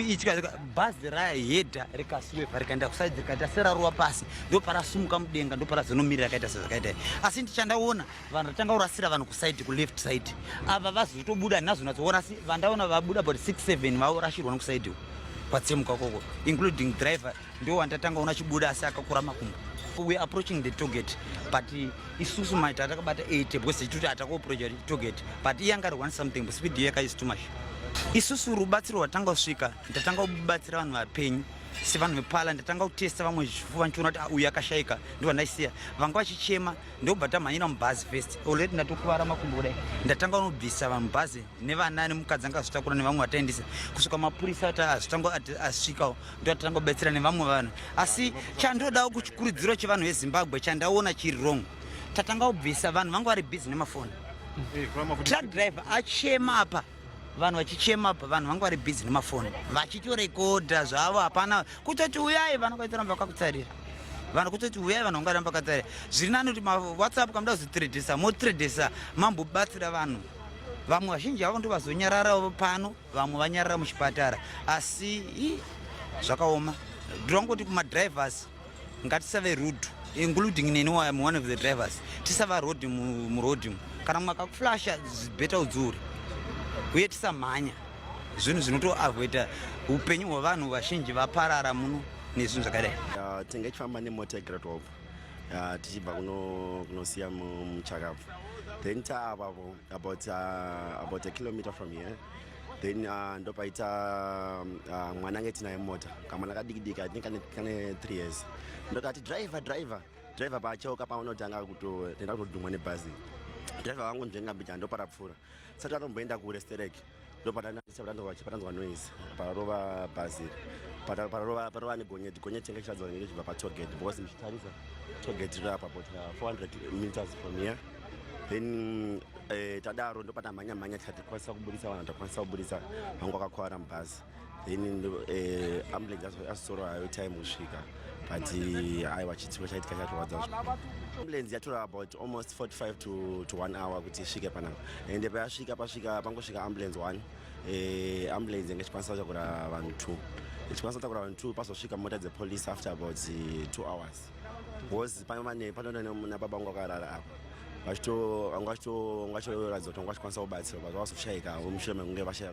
itya bhazi rayahedha rikasweva rikaenda kusaidi rikaita seraruwa pasi ndoparasumuka mudenga ndoparazonomirira akaita sezvakaita asi ndichandaona vanhu vatanga kurasira vanhu kusaidi kuleft side ava vazotobuda handina zonatsoona asi vandaona vabuda about 67 vaorashirwa nokusaidiwo kwatsemuka koko including driver ndiwo wandatanga ona chibuda asi akakura makumbo we approaching the target but isusu maita atakabata 8 because tichitoti atakuoproja target but iye anga ari one something but speed yeka is too much isusu rubatsiro rwatanga kusvika ndatanga kubatsira vanhu vapenyu sevanhu vepala ndatanga kutesta vamwe zvifuva ndichiona kuti ah, uyu akashaika ndivo ndaisiya vanga vachichema ndobva tamhanyira mubhazi first already ndatokuvara makumbo kudai ndatanga unobvisa vanhu bhazi nevana nemukadzi anga azvitakura nevamwe vataendisa kusvika mapurisa ati azvitanga asvikawo ndotatanga kubetsera nevamwe vanhu asi chandodawo kuchikurudziro chevanhu vezimbabwe chandaona chiri wrong tatanga kubvisa vanhu vanga vari busy nemafoni eh, truck driver achema apa vanhu vachichema apa vanhu vanga vari busy nemafoni vachitorekodha zvavo hapana kutoti uyai vanhu vaitoramba vakakutsarira vanhu kutoti uyai vanhu vangaramba vakatsarira zviri nani kuti mawhatsapp kamuda kuzotredesa motredesa mambobatsira vanhu vamwe vazhinji vavo ndovazonyararawo pano vamwe vanyarara muchipatara asi zvakaoma ndongoti kumadrivers ngatisave rude including neni am one of the drivers tisava rod murod kana mumwe akakuflasha beta udzuri uye tisamhanya zvinhu zvinotoavoida upenyu hwevanhu vazhinji vaparara muno nezvinhu zvakadai tinge chifamba nemota yegradwalp tichibva kunosiya muchakabva then taavapo about, uh, about a kilometer from here then uh, ndopaita um, uh, mwana ange tinaye mota kamwana kadikidiki i think kane three years ndokati driver driver driver paacheuka paanotanga kutotenda kutodhumwa nebhazi driver vangu ndengambija ndopara pfuura sati atomboenda kure stereki ndopatanzwa noise parova bhazi parova negonyeti gonyeti chenge chichadzwa nenge chibva patogate because ndichitarisa togate riri apa but 400 uh, meters from here then eh, tadaro ndopatamhanya mhanya tikwanisa kuburitsa vanhu takwanisa kuburitsa vangu vakakwara mubhazi then eh, ambulance asitsoro hayo time kusvika but eh, aiwa chitsiko chaitika chatorwadza ambulance yatora about almost 45 to, to one hour kuti isvike panapa ende payasvika pasvika pangosvika ambulance one eh, ambulance yanga ichikwanisa kutakura vanhu two ichikwanisa kutakura vanhu two pasosvika mota dzepolice after about two hours bcause pamane panoda nababa wangu akarara apa vachito vanga vachitoratidza kuti vanga vachikwanisa kubatsirwa but vavazoshaika vomushure mekunge vashaya